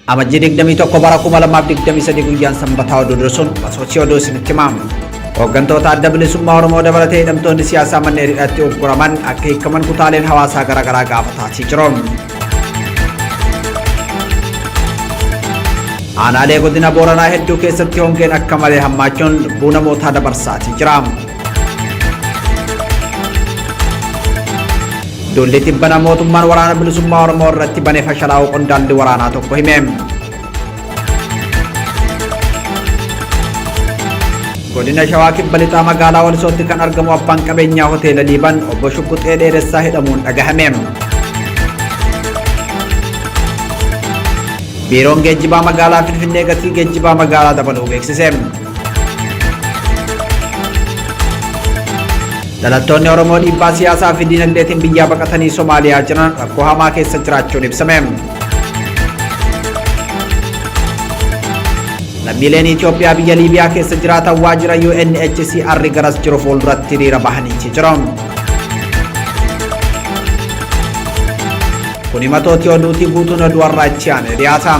Amajjii 21 bara 2023 guyyaan sanbataa oduu dursuun masoochii oduu isinitti himamu. Hooggantoota adda bilisummaa Oromoo dabalatee hidhamtoonni siyaasaa manneen hidhaatti ugguraman akka hiikaman kutaaleen hawaasaa garaagaraa gaafataa jiru. Aanaalee godina Booranaa hedduu keessatti hongeen akka malee hammaachuun lubbuu namootaa dabarsaatii jira. Duulli tibbana mootummaan waraana bilisummaa Oromoo irratti bane fashalaa'uu qondaalli waraanaa tokko hime. Godina Shawaa Kibba Lixaa magaalaa Walisootti kan argamu abbaan qabeenyaa hoteela Liiban obbo Shugguxee Dheeressaa hidhamuun dhagahame. Biiroon geejjibaa magaalaa Finfinnee gatii geejjibaa magaalaa dabaluu beeksise. Dhalattoonni Oromoo dhiibbaa siyaasaa fi diinagdeetiin biyyaa baqatanii Somaaliyaa jiran rakkoo hamaa keessa jiraachuun ibsame. Lammiileen Itoophiyaa biyya Liibiyaa keessa jiraatan waajjira UNHCR garas jiru fuulduratti hiriira bahaniichi jiru. Kun himatooti oduutii guutuun oduu har'aa itti aanee dhiyaata.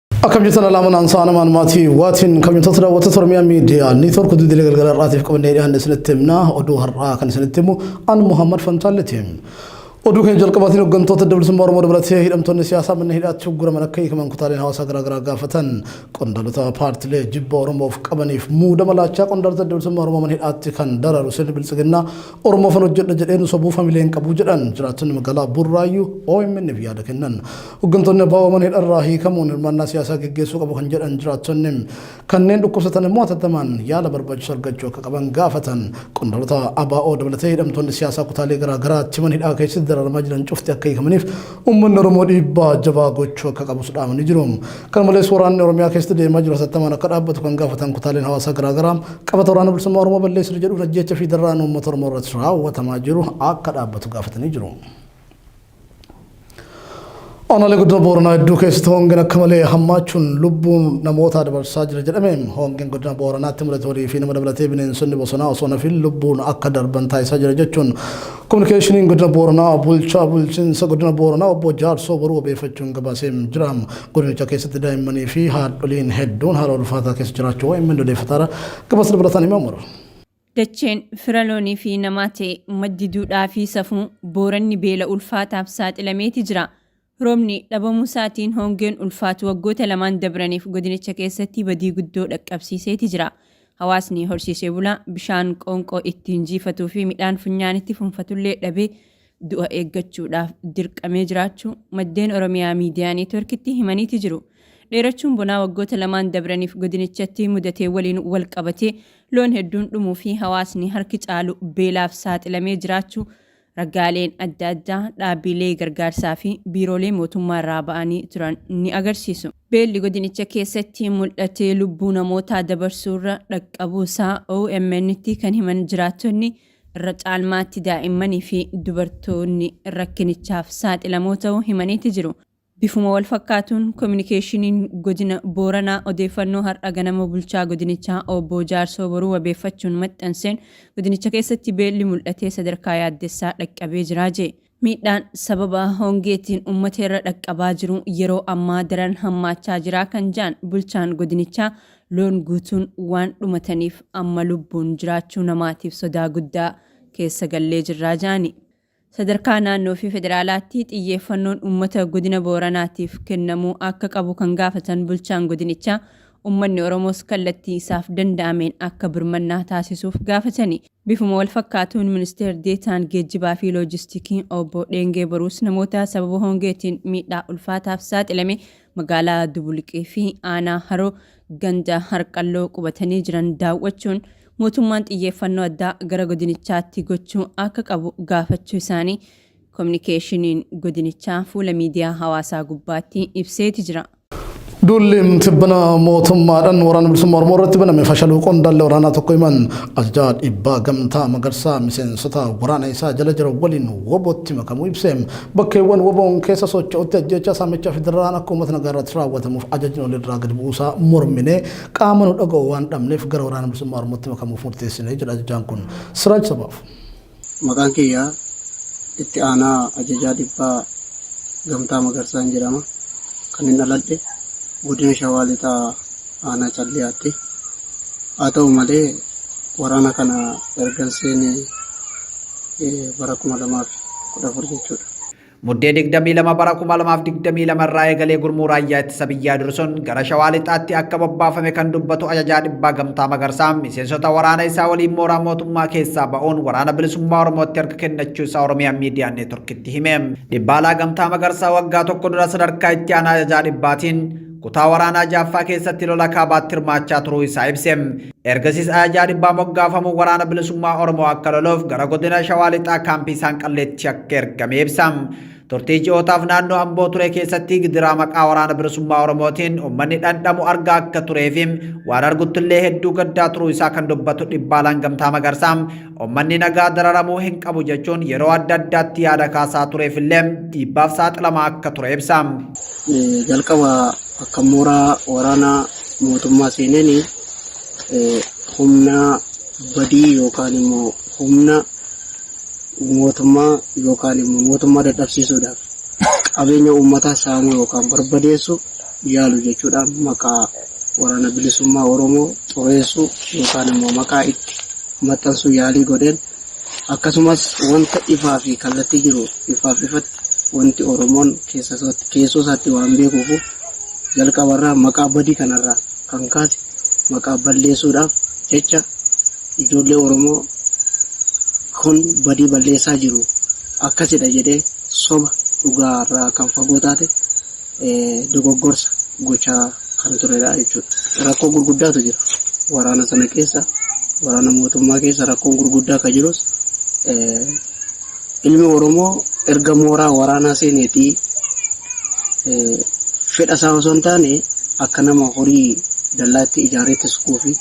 Akkam jirtan alaaman aansaa namaan maatii waatiin kabajamtoota daawwattoota Oromiyaa miidiyaa neetwoork duudilee galgala irraatiif qabannee dhiyaanne isinitti himna oduu har'aa kan isinitti himu an Muhammad Fantaalleeti. Oduu keenya jalqabaatiin hooggantoota dabalisummaa Oromoo dabalatee hidhamtoonni siyaasaa manneen hidhaatti ugguraman akka hiikaman kutaaleen hawaasaa garaagaraa gaafatan qondaalota paartilee jibba Oromoof qabaniif muudama laachaa qondaalota dabalisummaa Oromoo mana hidhaatti kan daraaru sirni biltsiginnaa Oromoofan hojjedha jedheen sobuu famileen qabu jedhan jiraattonni magaalaa Burraayyuu OMN'f yaada kennan. Hoggantoonni abo mana hidharraa hiikamuun hirmaannaa siyaasaa geggeessuu qabu kan jedhan jiraattonni kanneen dhukkubsatan immoo hatattamaan yaala barbaachisu argachuu akka qaban gaafatan. Qondaalota ABO dabalatee hidhamtoonni siyaasaa kutaalee garaa garaatti mana hidhaa keessatti dararamaa jiran cufti akka hiikamaniif uummanni Oromoo dhiibbaa jabaa gochuu akka qabus dhaamanii jiru. Kana malees waraanni Oromiyaa keessatti deemaa jiru hatattamaan akka dhaabbatu kan gaafatan kutaaleen hawaasaa garaa garaa qabata waraana bilisummaa Oromoo balleessina jedhuun ajjeecha fi dararaan uummata Oromoo irratti raawwatamaa jiru akka dhaabbatu gaafatanii jiru. Aanaalee godina Booranaa hedduu keessatti hongeen akka malee hammaachuun lubbuun namootaa dabarsaa jira jedhame. Hongeen godina Booranaatti mudate horii fi nama dabalatee bineensonni bosonaa osoo nafiin lubbuun akka darban taasisaa jira jechuun kominikeeshiniin godina Booranaa bulchaa bulchiinsa godina Booranaa obbo Jaarsoo Boruu wabeeffachuun gabaasee jira. Godinicha keessatti daa'immanii fi haadholiin hedduun haala ulfaataa keessa jiraachuu OMN odeeffataara gabaasa dabalataan himamu. Dacheen fira loonii fi namaa ta'e maddi duudhaa fi safuu Booranni beela ulfaataaf saaxilameeti jira. Roobni dhabamuusaatiin hongeen ulfaatu waggoota lamaan dabraniif godinicha keessatti badii guddoo dhaqqabsiiseeti jira. Hawaasni horsiisee bulaa bishaan qoonqoo ittiin jiifatuu fi midhaan funyaanitti funfatullee dhabee du'a eeggachuudhaaf dirqamee jiraachuu maddeen Oromiyaa Miidiyaa Neetworkitti himaniiti jiru. Dheerachuun bonaa waggoota lamaan dabraniif godinichatti mudatee waliin wal qabatee loon hedduun dhumuu fi hawaasni harki caalu beelaaf saaxilamee jiraachuu ragaaleen adda addaa dhaabbiilee gargaarsaa fi biiroolee mootummaa irraa ba'anii turan ni agarsiisu. Beelli godinicha keessatti mul'atee lubbuu namootaa dabarsuurra dhaqqabuusaa OMNtti kan himan jiraattonni, Irra caalmaatti daa'immanii fi dubartoonni rakkinichaaf saaxilamoo ta'uu himaniiti jiru. Bifuma walfakkaatuun Kominikeeshiniin Godina Booranaa odeeffannoo har'a ganama Bulchaa Godinichaa Obbo Jaarsoo Boruu wabeeffachuun maxxanseen, godinicha keessatti beelli mul'atee sadarkaa yaaddessaa dhaqqabee jira jee. Miidhaan sababa hongeetiin ummata irra dhaqqabaa jiru yeroo ammaa daran hammaachaa jira kan jedhan bulchaan godinichaa, loon guutuun waan dhumataniif amma lubbuun jiraachuu namaatiif sodaa guddaa keessa gallee jirra jedhani. Sadarkaa naannoo fi federaalaatti xiyyeeffannoon ummata godina Booranaatiif kennamuu akka qabu kan gaafatan bulchaan godinichaa, ummanni Oromoos kallattii isaaf danda'ameen akka birmannaa taasisuuf gaafatani. Bifuma walfakkaatuun Ministeer Deetaan Geejjibaa fi Loojistikii Obbo Dheengee Boruus namoota sababa hongeetiin miidhaa ulfaataaf saaxilame magaalaa Dubulqii fi aanaa Haroo ganda Harqalloo qubatanii jiran daawwachuun mootummaan xiyyeeffannoo addaa gara godinichaatti gochuu akka qabu gaafachuu isaanii Kominikeeshiniin godinichaa fuula miidiyaa hawaasaa gubbaatti ibseeti jira. Duulli tibbana mootummaadhaan waraana bilisummaa Oromoo irratti baname fashaluu qondaalli waraanaa tokko himan ajajaa dhibbaa gamtaa magarsaa miseensota waraana isaa jala jiran waliin wobootti makamuu ibse bakkeewwan woboon keessa socho'utti ajjeechaa saamichaa fi dararaan akka uummata nagaa irratti raawwatamuuf ajajni ol irraa gadi bu'uusaa mormine qaama nu dhaga'u waan dhabneef gara waraana bilisummaa Oromootti makamuuf murteessine jedha ajajaan kun siraaj sabaaf. Maqaan kiyya Itti Aanaa Ajajaa Dhibbaa Gamtaa Magarsaan jedhama. Kanin dhaladhe Godina Shawaa Lixaa Aanaa Calliyaatti. Haa ta'u malee waraana kana ergan seene bara 2014 jechuudha. Muddee 22 bara 2022 irraa eegalee gurmuu raayyaa ittisa biyyaa dursuun gara shawaa lixaatti akka bobbaafame kan dubbatu ajajaa dhibbaa gamtaa magarsaa miseensota waraana isaa waliin mooraa mootummaa keessaa ba'uun waraana bilisummaa oromootti harka kennachuu isaa oromiyaa miidiyaa neetworkitti hime. Dhibbaalaa gamtaa magarsaa waggaa tokko dura sadarkaa itti aanaa ajajaa dhibbaatiin Kutaa waraanaa ja'affaa keessatti lola kaabaatti hirmaachaa turuu isaa ibse. Ergasiis ajajaa dhibbaa moggaafamuun waraana bilisummaa Oromoo akka loluuf gara godina Shawaa Lixaa kaampii isaan qalleetti akka ergame ibsa. Turtii ji'ootaaf naannoo Amboo ture keessatti gidiraa maqaa waraana bilisummaa Oromootiin uummanni dhandhamu argaa akka turee fi waan arguttillee hedduu gaddaa turuu isaa kan dubbatu dhibbaalaan gamtaa magarsaa Ummanni nagaa dararamuu hin qabu jechuun yeroo adda addaatti yaada kaasaa tureef illee dhiibbaaf saaxilamaa akka ture ibsa. Jalqaba akka mooraa waraana mootummaa seeneen humna badii yookaan immoo humna mootummaa yookaan immoo mootummaa dadhabsiisuudhaaf qabeenya uummataa saamuu yookaan barbadeessuu yaalu jechuudhaan maqaa Waraana Bilisummaa Oromoo xureessuu yookaan immoo maqaa itti maxxansuu yaalii godheen akkasumas wanta ifaa fi kallattii jiru ifaaf ifatti wanti Oromoon keessoo isaatti waan beekuufu jalqaba irraa maqaa badii kana irraa kan kaase maqaa balleessuudhaaf jecha ijoollee Oromoo kun badii balleessaa jiru akkasidha jedhee soba dhugaa irraa kan fagoo taate dogoggorsa gochaa kan turedha jechuudha. Rakkoo gurguddaatu jira. Waraana sana keessa waraana mootummaa keessa rakkoon gurguddaa kan jirus ilmi Oromoo erga mooraa waraanaa seeneetii fedha isaa osoo hin taane akka nama horii dallaatti ijaareetti sukuu fi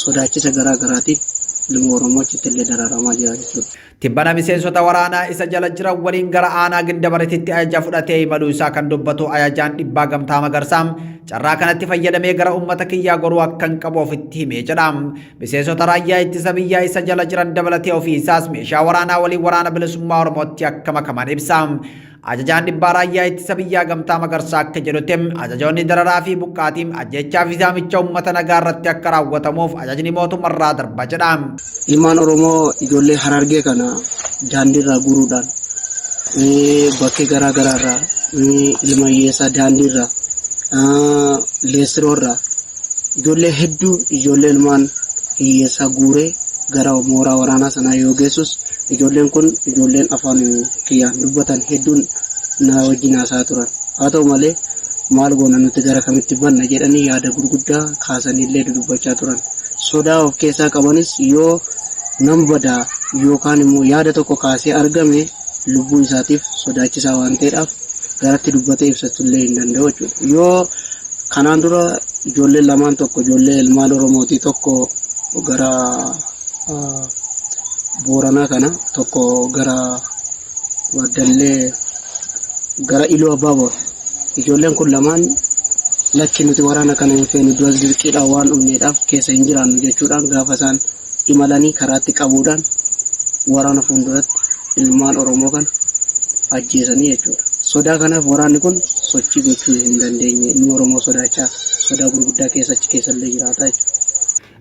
sodaachisa garaa garaatiif ilmi Oromoo achitti illee dararamaa jira jechuudha. Tibbana miseensota waraanaa isa jala jiran waliin gara aanaa Gindabarititti ajaja fudhatee imaluu isaa kan dubbatu ajajaan dhibbaa Gamtaa Magarsaa carraa kanatti fayyadamee gara uummata kiyyaa goruu akkan qabu ofitti himee jedha. Miseensota raayyaa ittisa biyyaa isa jala jiran dabalatee ofii isaas meeshaa waraanaa waliin waraana bilisummaa Oromootti akka makaman ibsa. Ajajaan dhibbaa raayyaa ittisa biyyaa gamtaa magarsaa akka jedhutti ajajoonni dararaa fi buqqaatii ajjechaa fi saamicha uummata nagaa irratti akka raawwatamuuf ajajni mootummarraa darba jedha. Ilmaan Oromoo ijoollee harargee kana daandiirraa guuruudhaan bakkee garaa garaarraa ilma hiyyeessaa daandiirraa leessiroorraa Ijoollee hedduu ijoollee ilmaan hiyyeessaa guuree gara mooraa waraanaa sanaa yoo geessus ijoolleen kun ijoolleen afaan kiyyaan dubbatan hedduun na wajjin haasa'aa turan. Haa ta'u malee, maal goona nuti gara kamitti banna jedhanii yaada gurguddaa kaasaniillee dudubbachaa turan. Sodaa of keessaa qabanis yoo nan bada yookaan immoo yaada tokko kaasee argame lubbuu isaatiif sodaachisaa waan ta'eedhaaf garatti dubbatee ibsatullee hin danda'u jechuudha. Yoo Kanaan dura ijoolleen lamaan tokko ijoollee ilmaan Oromooti tokko gara Booranaa kana tokko gara Baddallee gara Iluu Abbaaboor ijoolleen kun lamaan lakki nuti waraana kana hin feenu duras dirqiidhaan waan dhumneedhaaf keessa hin jiraannu jechuudhaan gaafa isaan imalanii karaatti qabuudhaan waraana fuulduratti ilmaan Oromoo kana ajjeesanii jechuudha. Sodaa kanaaf waraanni kun sochii gochuu hin dandeenye. Ilmi Oromoo sodaachaa sodaa gurguddaa keessa achi keessa illee jiraata jechuudha.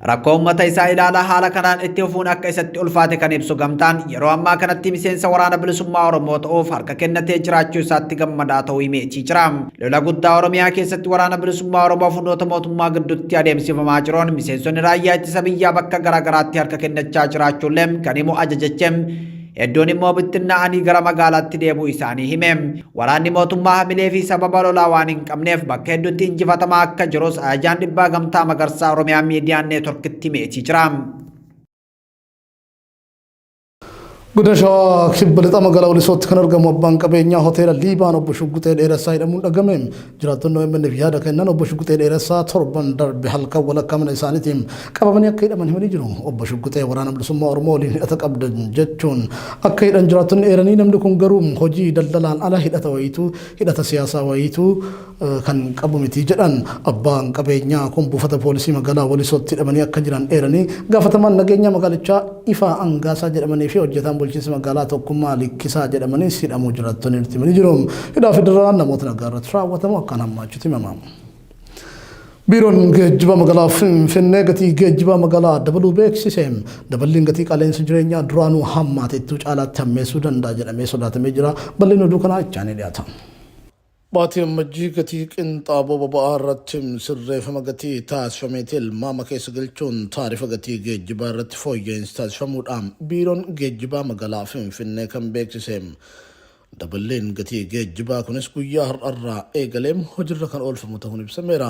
Rakkoo uummata isaa ilaalaa haala kanaan itti fufuun akka isatti ulfaate kan ibsu gamtaan yeroo ammaa kanatti miseensa waraana bilisummaa Oromoo ta'uuf harka kennatee jiraachuu isaatti gammadaa ta'uu himeetii jira. Lola guddaa Oromiyaa keessatti waraana bilisummaa Oromoo fi humnoota mootummaa gidduutti adeemsifamaa jiruun miseensonni raayyaa ittisa biyyaa bakka garaagaraatti harka kennachaa jiraachuullee kan himu ajajachi hedduun immoo bittinnaa'anii gara magaalaatti deebuu isaanii hime. Waraanni mootummaa hamilee fi sababa lolaa waan hin qabneef bakka hedduutti injifatamaa akka jirus ajajaan dhibbaa gamtaa magarsaa Oromiyaa miidiyaan neetworkitti himeetii jira. Godina Shawaa kibba lixa magaalaa Walisootti kan argamu abbaan qabeenyaa hoteela Liibaan obbo Shugguxee Dheeressaa hidhamuun dhagame. Jiraattonni OMN'f yaada kennan obbo Shugguxee Dheeressaa torban darbe halkan walakkaa mana isaaniitiin qabamanii akka hidhaman himanii jiru. Obbo Shugguxee waraana bilisummaa Oromoo waliin hidhata qabda jechuun akka hidhan jiraattonni eeranii namni kun garuu hojii daldalaan ala hidhata wayiitu hidhata siyaasaa wayiitu kan qabu miti jedhan. Abbaan qabeenyaa kun buufata poolisii magaalaa Walisootti hidhamanii akka jiran eeranii, gaafatamaan nageenyaa magaalichaa Ifaa Angaasaa jedhamanii fi hojjetaan bulchiinsa magaalaa Tokkummaa Likkisaa jedhamanis hidhamuu jiraattonni nutti himanii jiru. Hidhaa fi dararaan namoota nagaa irratti raawwatamu akkaan hammaachuutu himama. Biiroon geejjiba magaalaa Finfinnee gatii geejjibaa magaalaa dabaluu beeksise. Daballiin gatii qaala'insa jireenyaa duraanuu hammaateettuu caalaatti hammeessuu danda'a jedhamee sodaatamee jira. Bal'inni oduu kanaa itti aanee dhiyaata. Baatii Ammajjii gatii qinxaaboo boba'aa irratti sirreefama gatii taasifamee tilmaama keessa galchuun taarifa gatii geejjibaa irratti fooyya'iinsi taasifamuu dha Biiroon Geejjibaa Magaalaa Finfinnee kan beeksise. Daballiin gatii geejjibaa kunis guyyaa har'arraa eegalee hojirra kan oolfamu tahuun ibsameera.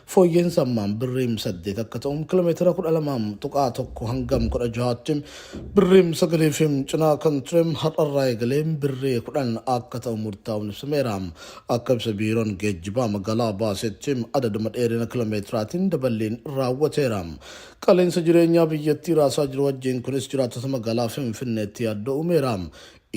Fooyyeen sammaan birriim 8 akka ta'u kilomeetira 12.1 hangam 16tti birriim 9 fi cinaa kan ture har'arraa eegalee birrii 10 akka ta'u murtaa'uun ibsameera. Akka ibsa biiroon geejjibaa magaalaa baasetti adaduma dheerina kilomeetiraatiin daballiin raawwateera. Qaala'insa jireenyaa biyyattii raasaa jiru wajjin kunis jiraattota magaalaa Finfinneetti yaaddoo uumeera.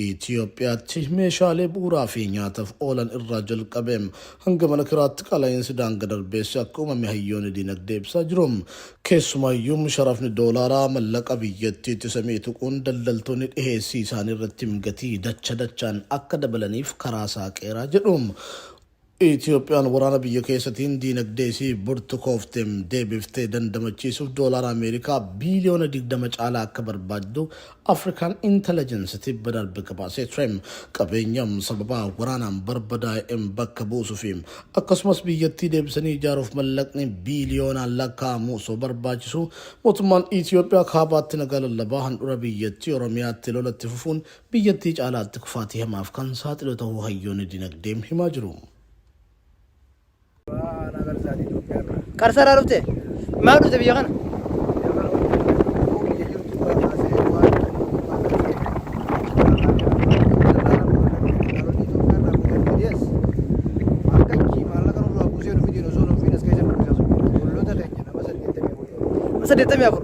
Itiyoophiyaatti meeshaalee bu'uuraa fi nyaataf oolan irraa jalqabee hanga mana kiraatti qaala'iinsi daanga darbeessi akka uumame hayyoonni diinagdee ibsaa jiru. Keessumaayyuu sharafni doolaaraa mallaqa biyyattiitti isa mi'e tuquun daldaltoonni dhiheessii isaanii irratti gatii dacha dachaan akka dabalaniif karaa saaqeera jedhu. Itoophiyaan waraana biyya keessatiin diinagdee isii burtukoofte deebiftee dandamachiisuuf doolaara Ameerikaa biiliyoona 20 caalaa akka barbaaddu Afrikaan Intalajansi tibba darbe gabaasee ture. Qabeenya sababa waraanaan barbadaa'e bakka buusu fi akkasumas biyyattii deebisanii ijaaruuf mallaqni biiliyoonaan lakkaa'amu osoo barbaachisuu mootummaan Itoophiyaa kaabaatti nagaa lallabaa handhura biyyattii Oromiyaatti lola itti fufuun biyyattii caalaatti kufaatii hamaaf kan saaxilu tahuu hayyoonni dinagdee himaa jiru. Abbaa aanaa Qarsaati Itoophiyaa irraa. Qarsaa irraa dhufte? Maaf dhufte biyya kana? Biyya kana hojii kana jirtu biyya jirtu irraa kaasee waan waan ta'eef Nama saddeettamii afur.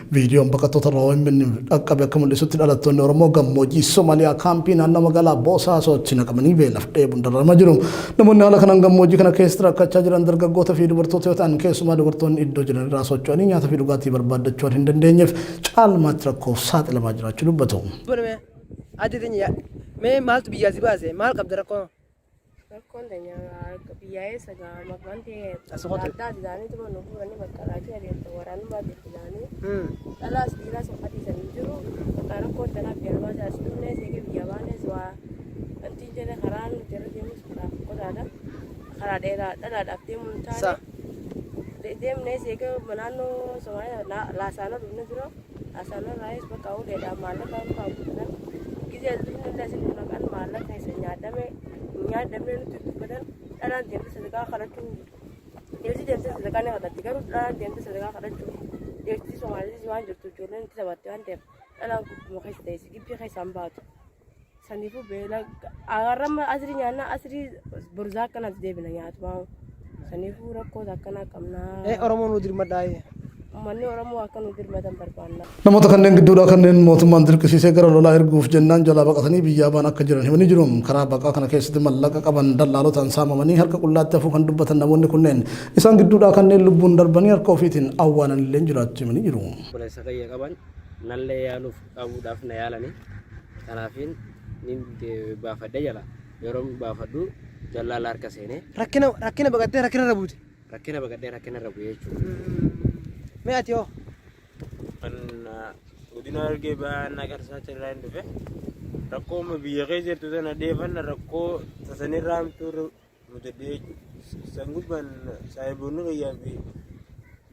Viidiyoon baqattootarraa OMN'f dhaqqabe akka mul'isutti dhalattoonni Oromoo gammoojjii Somaaliyaa kaampii naannoo magaalaa Boosaasootti naqamanii beelaf dheebuun dararamaa jiru. Namoonni haala kanaan gammoojjii kana keessatti rakkachaa jiran dargaggoota fi dubartoota yoo ta'an keessumaa dubartoonni iddoo jiran irraa socho'anii nyaata fi dhugaatii barbaaddachuu waan hin dandeenyeef caalmaatti rakkoof saaxilamaa jiraachuu dubbatu. Mee maaltu biyyaa si baase? Maal qabda rakkoo? Rakkoon teenya harka biyyaa eessa ga'a maqaan ta'e As qote. adda adda isaanii tuma nu fuudhanii bakka laachuu adeemta waraanummaa jirti isaanii. Mm. Dhalaas dhiiraas hin fadhiisan hin jiru. Bakka rakkoo tanaa biyyaa baasa as dhufnees eega biyyaa baanees waa wanti hin jenne karaa nuti irra deemus karaa fokkataadha. Karaa dheeraa dhalaadhaaf deemuu hin Sa. taane. De- Deemnees eega naannoo Somaaliyaa laa- laasaanoo dhufne dura Asanarraayis bakka uleedhaan maallaqa hin baafatan. Gizee illee isin maqaan maallaqa isa nyaadhame hin nyaadhamne nutti dubbatan dhalaan deemte sadaqaa kadhachuu ilisi deemte sadaqaa ni kadhatti garuu dhalaan deemte sadaqaa kadhachuu deemti somaaliitis waan jirtu ijoolleen itti taphatte waan ta'eef dhalaan gubbuma keessa ta'e gibbii keessaan baatu. Saniifuu beela arrama asrii nyaanna asrii borzaa akkanatti deebina nyaatumaa. Saniifuu rakkoota akkanaa qabnaa. Ee Oromoo nu dirmadhaayi. Uummanni Oromoo akka nu dirmatan barbaanna. Namoota kanneen gidduudhaa kanneen mootummaan dirqisiisee gara lolaa erguuf jennaan jalaa baqatanii biyyaa baan akka jiran himanii jiru. Karaa baqaa kana keessatti mallaqa qaban dallaalotaan saamamanii harka qullaatti hafuu kan dubbatan namoonni kunneen isaan gidduudhaa kanneen lubbuun darbanii harka ofiitiin awwaalanillee jiraachuu himanii jiru. obboleessa kiyya qaban nallee yaaluuf qabuudhaaf na yaalani kanaafin nin baafadhe jala yeroo baafadhu jallaala harka seenee Rakkina rakkina baqattee rakkina irra buute. rakkina baqadhee rakkina irra bu'ee jechuudha. Mee ati hoo? kan godina argee ba'aa na garsaatti irraa hin dhufe rakkoo amma biyya kee jirtu sana dheefanna rakkoo tasanirraa hamtuu Mudadhee san gubbaan saahiboonni kiyyaa fi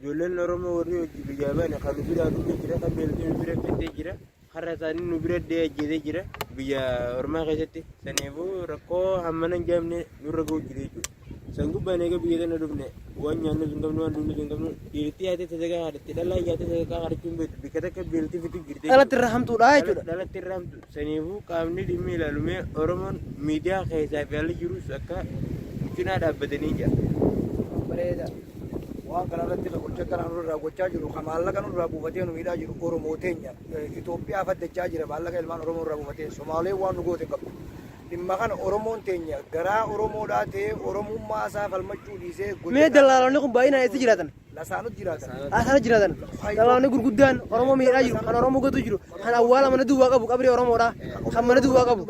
ijoolleen Oromoo warri hojii biyyaa baane kan nu biraa dhufee jira kan beeltee nu bira fiddee jira har'a isaanii nu bira dhee ajjeesee jira biyya ormaa keessatti saniifuu rakkoo hammana hin jaamne nurra ga'u jira jechuudha. San gubbaan eega biyya tana dhufne waan nyaannu hin qabnu waan dhugnu hin qabnu dhiirti yaatee sadarkaa haadhatti dhalaa yaatee sadarkaa haadhachuun beektu bikka takka beeltii fitu jirti. Dhalatti irra hamtuudha jechuudha. Dhalatti irra hamtu Saniifuu qaamni dhimmi ilaalu mee Oromoon miidiyaa keessaa fi alli jirus akka cinaa dhaabbatanii jira. bareeda waan kana irratti ka gocha kana nurraa gochaa jiru ka maallaqa nurraa buufatee nu miidhaa jiru oromoo teenya Eh, Itoophiyaa faddachaa jira maallaqa ilmaan oromoo irraa buufatee somaalee waan nu goote hin qabdu dhimma kana oromoon teenya garaa oromoodhaa ta'ee oromummaa isaa falmachuu dhiisee gocha Mee dallaalonni kun baay'inaan eessa jiraatan? Lasaanot jiraatan. Lasaanot jiraatan. Qabaamni gurguddaan Oromoo miidhaa jiru. Kan Oromoo gotuu jiru. Kan awwaala mana duwwaa qabu qabri Oromoodha. Kan mana duwwaa qabu.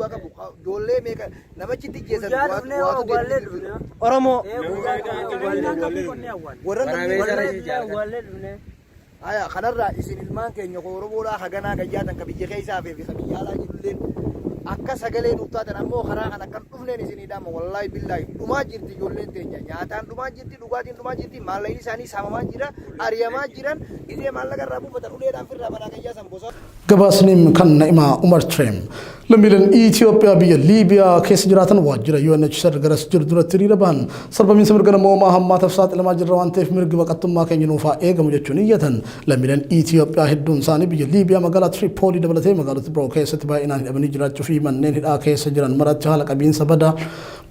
Doollee meeqa namachi itti jeesan waatu deemee jiru. Oromoo. Warra namni Aya kanarraa isin ilmaan keenya koo Oromoodhaa haganaa gayyaatan ka biyya keessaa fi ka biyya alaa jirulleen akka sagalee nuuf taatan ammoo karaa kan akkan dhufneen isinii dhaama wallaahi billaahi dhumaa jirti ijoolleen teenya nyaataan dhumaa jirti Dhugaatiin dhumaa jirti, maallaqni isaanii saamamaa jira, ariyamaa jiran, gizee maallaqa irraa buufatan uleedhaan firraa manaa kan yaasan bosona. Gabaasni kan Na'imaa Umar ture. Lammiileen Itoophiyaa biyya Liibiyaa keessa jiraatan waajjira UNHCR garas jiru duratti hiriira bahan sarbamiinsa mirga namoomaa hammaataaf saaxilamaa jirra waan ta'eef mirgi baqattummaa keenya nuuf haa eegamu jechuun iyyatan. Lammiileen Itoophiyaa hedduun isaanii biyya Liibiyaa magaalaa Tiripoolii dabalatee magaalota biroo keessatti baay'inaan hidhamanii jiraachuu fi manneen hidhaa keessa jiran maratti haala qabiinsa badaa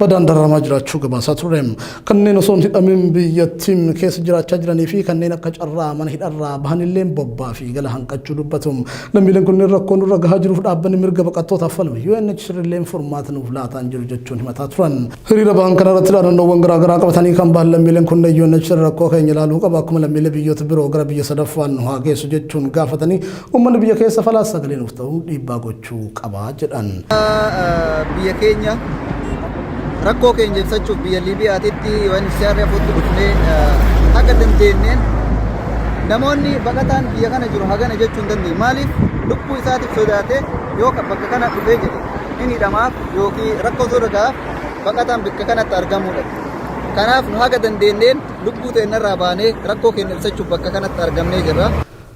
badaan dararamaa jiraachuu gabaasaa turre. Kanneen osoo hin hidhamin biyyattiin keessa jiraachaa jiranii fi kanneen akka carraa mana hidharraa bahanillee bobbaa fi gala hanqachuu dubbatu. Lammiileen kunneen rakkoo nurra gahaa jiruuf dhaabbanni mirga baqattootaaf falmu UNHCR illee furmaata nuuf laataa hin jiru jechuun himataa turan. Hiriira bahan kanarratti dhaadannoowwan garaagaraa qabatanii kan bahan lammiileen kunneen UNHCR rakkoo keenya ilaaluu qaba akkuma lammiilee biyyoota biroo gara biyya sadaffaan nu haa geessu jechuun gaafatanii uummanni biyya keessa falaas sagalee nuuf ta'uun dhiibbaa gochuu hojjechuu qaba jedhan. Biyya keenya rakkoo keenya ibsachuuf biyya Liibiyaatitti UNHCR footti dhufnee haga dandeenneen namoonni baqataan biyya kana jiru hagana jechuu hin dandeenye. Maaliif lubbuu isaatiif sodaatee yoo bakka kana dhufee jedhe hin hidhamaaf yookiin rakkoo irra gahaaf baqataan bakka kanatti argamuudha. Kanaaf nu haga dandeenneen lubbuu teennarraa baanee rakkoo keenya ibsachuuf bakka kanatti argamnee jirra.